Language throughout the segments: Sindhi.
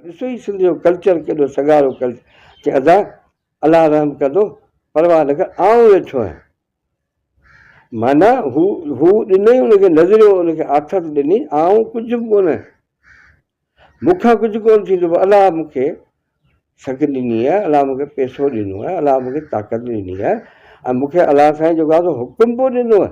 ڏسو هي سنڌ جو ڪلچر ڪيڏو سگهارو ڪلچر چي ادا الله رحم ڪندو پرواهه نه ڪر آئون ويٺو آهيان معنيٰ هو هو ڏنئي ان کي نظريو ان کي آٿت ڏني آئون ڪجهه به ڪونه مون کان ڪجهه ڪونه ٿيندو پر الله مون کي سگهه ڏني آهي الله مون کي پيسو ڏنو آهي الله مون کي طاقت ڏني آهي ۽ مون کي الله سائين جيڪو آهي سو حڪم پيو ڏنو آهي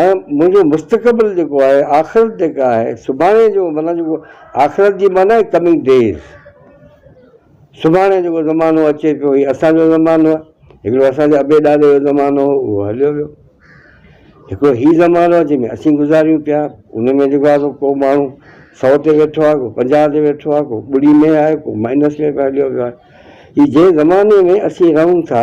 ۽ منهنجو مستقبل جيڪو آهي آخرت جيڪا آهي سڀاڻي جو معنيٰ جيڪو آخرت جي معنيٰ آهي ڪمنگ ڊيز سڀاڻي جيڪو زمانو اچي پيو هي اسانجو زمانو آهي هڪڙو اسانجي ابي ڏاڏي جو زمانو هو اهو هليو ويو هڪڙو هي زمانو آهي جنهن ۾ اسين گذاريون پيا ان ۾ جيڪو آهي ڪو ماڻهو سؤ تي ويٺو آهي ڪو پنجاهه تي ويٺو آهي ڪو ٻڙي ۾ آهي ڪو مائنس ۾ به هليو ويو آهي هي جنهن زماني ۾ اسين رهون ٿا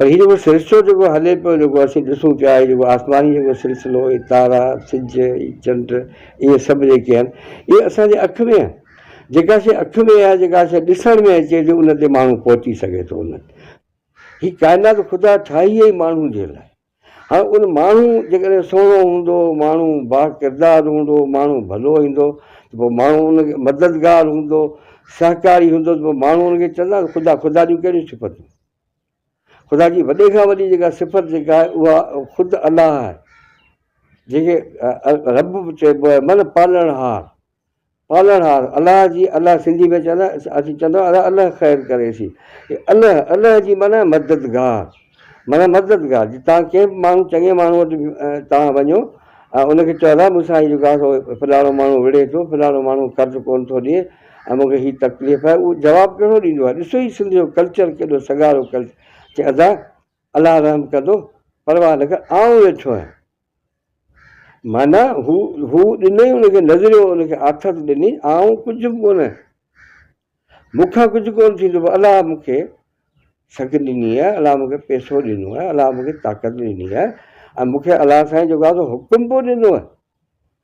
پر هي جيڪو سرشتو جيڪو هلي پيو جيڪو اسين ڏسون پيا هي جيڪو آسماني جيڪو سلسلو هي تارا سج هي چنڊ اهي سڀ جيڪي آهن اهي اسان جي اک ۾ آهن جيڪا شيء اک ۾ آهي جيڪا شيء ڏسڻ ۾ اچي ٿي ان تي ماڻهو پهچي سگهي ٿو انهن هي ڪائنات خدا ٺاهي ئي ماڻهن جي لاء هاڻ ان ماڻهو جيڪڏهن سهڻو هوندو، ماڻهو با ڪردار هوندو، ماڻهو ڀلو هيندو ته پوء ماڻهو ان کي مددگار هوندو، سهڪاري هوندو ته پوء ماڻهو ان کي چوندا ته خدا، خدا جون ڪهڙيون صفتون؟ خدا جي وڏي کان وڏي جيڪا صفت جيڪا آهي اها خود الله آهي، جنهن کي رب به چئبو آهي معنيٰ پالڻهار. پالڻھار الله جي الله سنڌي ۾ چوندا اسين چوندا آھيون الله خير ڪري سي الله الله جي معنيٰ مددگار معنيٰ مددگار جي تان ڪنھن به ماڻھو چڱي ماڻھو وٽ تان وڃو ۽ ان کي چودا مون سان ھي جيڪو آھي سو فلاڻو ماڻھو وڙھي ٿو فلاڻو ماڻھو قرض ڪون ٿو ڏئي ۽ مون کي ھي تڪليف آھي اھو جواب ڪھڙو ڏيندو آھي ڏسو ھي سنڌ جو ڪلچر ڪيڏو سگھارو ڪلچر چي ادا الله رحم ڪندو پرواھ نه ڪر آئون ويٺو آھيان. معنيٰ، هو، هو ڏنئي ان کي نظريو، ان کي آٿت ڏني، آئون ڪجهه به ڪونه، مون کان ڪجهه ڪونه ٿيندو، پر الله مون کي سگهه ڏني آهي، الله مون کي پئسو ڏنو آهي، الله مون کي طاقت ڏني آهي ۽ مون کي الله سائين جيڪو آهي سو حڪم به ڏنو آهي.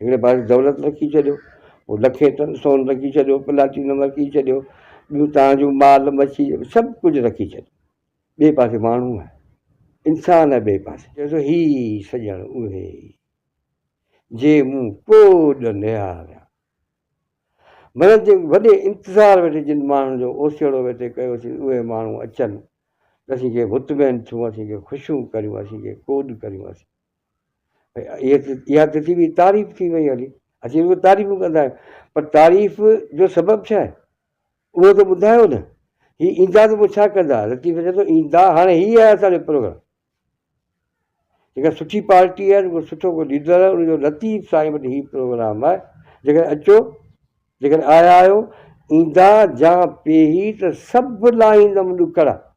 هڪڙي پاسي دولت رکي ڇڏيو، پوء لکين ٽن سون رکي ڇڏيو، پلاٽينم رکي ڇڏيو، ٻيون توهان جون مال مڇي سڀ ڪجهه رکي ڇڏيو. ٻئي پاسي ماڻهو آهي، انسان آهي ٻئي پاسي. چوي ٿو هي سڄڻ اهي ئي، جي مون ڪوڏ نهاريان. معنيٰ جي وڏي انتظار ويٺي جن ماڻهن جو اوسيئڙو ويٺي ڪيوسين، اهي ماڻهو اچن ته اسين ڪي مطمئن ٿيون، اسين ڪي خوشيون ڪريون، اسين ڪي ڪوڏ ڪريون، اسين. اها تجي بي تعريف ٿي وئي هلي اسين به تعريف ڪندا آهيون پر تعريف جو سبب ڇا آهي اهو ته ٻڌايو نه هي ايندا ته پوء ڇا ڪندا لطيف چئي ٿو ايندا هاڻي هي آهي اسانجو پروگرام جيڪا سٺي پارٽي آهي جيڪو سٺو ڪو ليڊر آهي ان جو لطيف سائين وٽ هي پروگرام آهي جيڪڏهن اچو جيڪڏهن آيا آهيو ايندا جا پيهي ته سڀ لاهيندم ڏکڙا